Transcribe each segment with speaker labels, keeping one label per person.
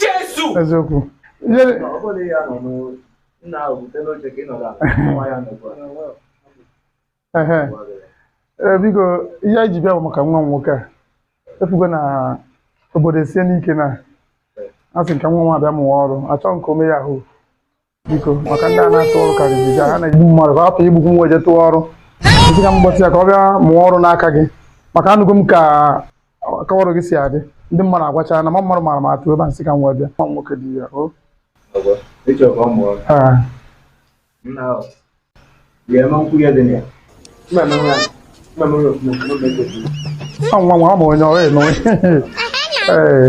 Speaker 1: Jesu! Eziokwu. Ijere. Ọ bụrụ na ya nọ n'ụlọ, nna ahụ butenụ oche ka ị nọrọ ala, nwa ya nọkwa. Ehe. Ee, biko ihe anyị ji bịa bụ maka nwa m nwoke a ị fugo na obodo esienụ ike na asị m ka nwa m a bịa mụwa ọrụ achọghị m ka o mee yahoo biko maka ndị a na-atụ ọrụ karịrị ga ha na-egbu mmadụ ka hapụ igbukwu nwa eje tụọ ọrụ nsị ka m kpọta ya ka ọ bịa mụọ ọrụ n'aka gị maka anụgo m ka ka ọrụ gị si adị ndị mmadụ agwacha na ma mmadụ mara m atụ ebe a nsị ka m wee bịa nwa m nwoke dị ya o Ah, ọ nwa nwa ọ ma onye ọrụ ịnụ ee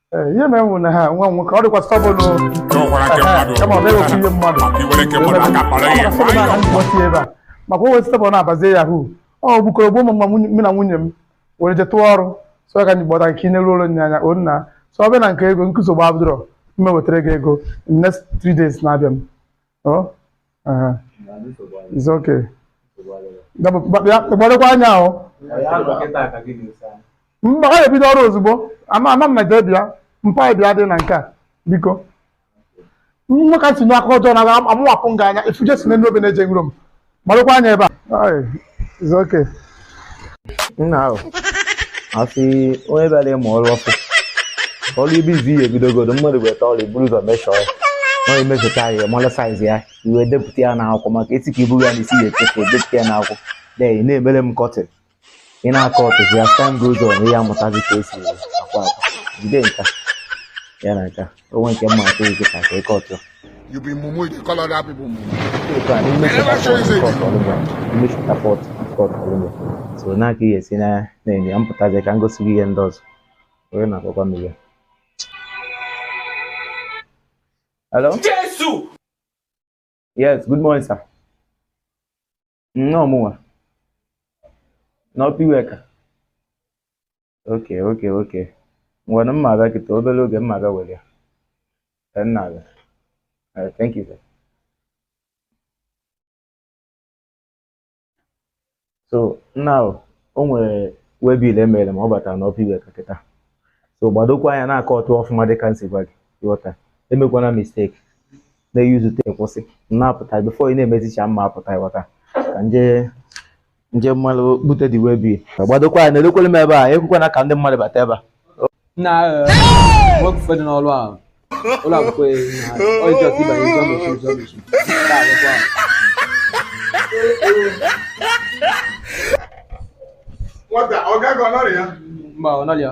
Speaker 1: Ee, ihe mere m na ha nwa m nwoke ọ dịkwa stubborn n'ụkwara nke mmadụ kama ọ na-ewepụ ihe mmadụ maka iwere nke mmadụ aka kpara ihe Ọ bụrụ na nwayọọ ndị ọchị ebe a maka o wee stubborn na-abazie yahoo ọ gbukọrọ gbuo mama nwunye- mụ na nwunye m were je tụọ ọrụ so ya ka anyị kpọta nke ineru ụlọ nye anya o nna so ọ bịa na nke ego nsogbu adịrọ mma ewetara gị ego in next three days na-abịa m Oh, aha. It's okay. Dapụ, gba- bịa, gbadokwa anya ahụ. Mba, ọ ga-ebido ọrụ ozugbo. Ama ama m na jee bịa. Mpa anyị bịa dị na nke a. Biko. Nwoke si n'aka ọjọọ na amawapụ m gị anya. Ị fụ Jesu n'elu obe na-eje na Rome. gbadokwa anya ebe a is okay nna ahụ asị onye bịara ịmụ ọrụ ọkụ ọrụ ibe izi ihe ebidogodo mmadụ weta ọrụ i buru ụzọ measure ya ọ emefeta ya mara size ya i wee depụta ya n'akwụkwọ maka a sị ka i buru ya na isi ị ya-echefu depụta ya n'akwụkwọ then na-emere m cutting ị na-akọ ọtụ as time goes on ị ya-amụtazi ka e si akwa akwa jide nka ya na nka onwe nke mma atụ gị ka ka ịkọ ọtụ You be mumu, you call other people mumu. ụka n'ime chapter four kọt ọlụmọ so na aka ihe esi na na-enye ya mpụtazi ka m gosi gị ihe ndị ọzọ onye na-akpọkwa m ihe hello Jesu! yes good morning sir Ọọ mụnwa. N'Upper Iweka. Okay, okay, okay. Ngwanụ mma abịa kịta obere oge mma abịa were ya. Ee, m na-abịa. Ee, thank you, sir. So, nna ahụ, o nwere waybill e mere m ọ batara n'Upper Iweka kịta. So, gbadokwa anya na-akọ ọtụ ọfụma dịka m si gwa gị. Ghọta. Emekwana mistake. na-eyuzute kwụsị na-apụta bifo ị na-emezicha mma apụta ịghọta ka nje nje mmalụ bute dị wee bi gbadokwa ya na-elekwere m ebe a ekwekwana ka ndị mmadụ bata ebe a na nwoke ụfọdụ n'ọrụ ahụ ụlọ akwụkwọ ya ọjọọ ka ịbanye ụzọ mmechi ụzọ mmechi nwata ọ gaghị ọ nọrọ ya mba ọ nọrọ ya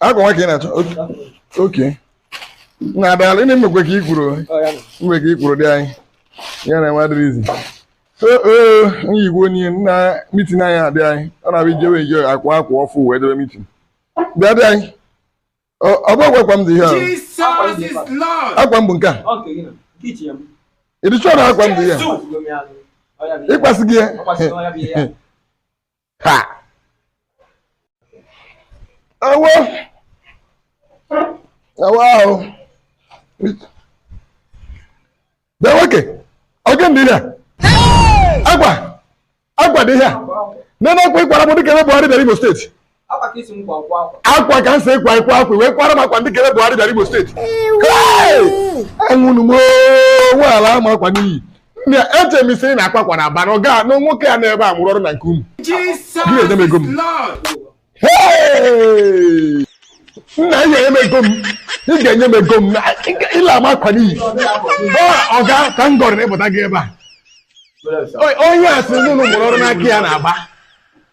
Speaker 1: akwa nwa ka ị na-achọ oke na adala ị na-emekwe ka ikwuru mgbe ka ikwuru dị anyị ya na nwadịrị izi nyigwe onye na mitin anyị adị anyị ọ na-abụ ijewe ije akwa akwa ọfụ wee jebe mitin bịa di anyị ọ bụkwa akwa m dị ihe ahụ akwa m bụ nke a ị dị sure na akwa m dị ihe ị kwasị gị ya Ha! Awa! Awa ahụ! Bịa nwoke! Ọ gịnị dị ihe a? Akwa! Akwa dị ihe a! Nene akwa ị kwara m dịka ebe Buhari bịara Imo State. Akwa ka m sị ị kwaa ị kwaa akwa wee kwara m akwa dịka ebe Buhari bịara Imo State. Hey! Anwụnụ m oo! Nwa a alaa m akwa n'iyi. Nne eche m ị sị ị na-akwa akwa na Aba na ọ gaa na nwoke a n'ebe a mụrụ ọrụ na nke unu. Gị na-enye m ego m. Hey! Nna ị ga-enye m ego m. Ị ga-enye m ego m. Na- ị ga- Ị laa m akwa n'iyi. Ọ ọga ka m gọrọ ịpụta gị ebe a. O- Onye a sị na unu mụrụ ọrụ n'aka ya na Aba.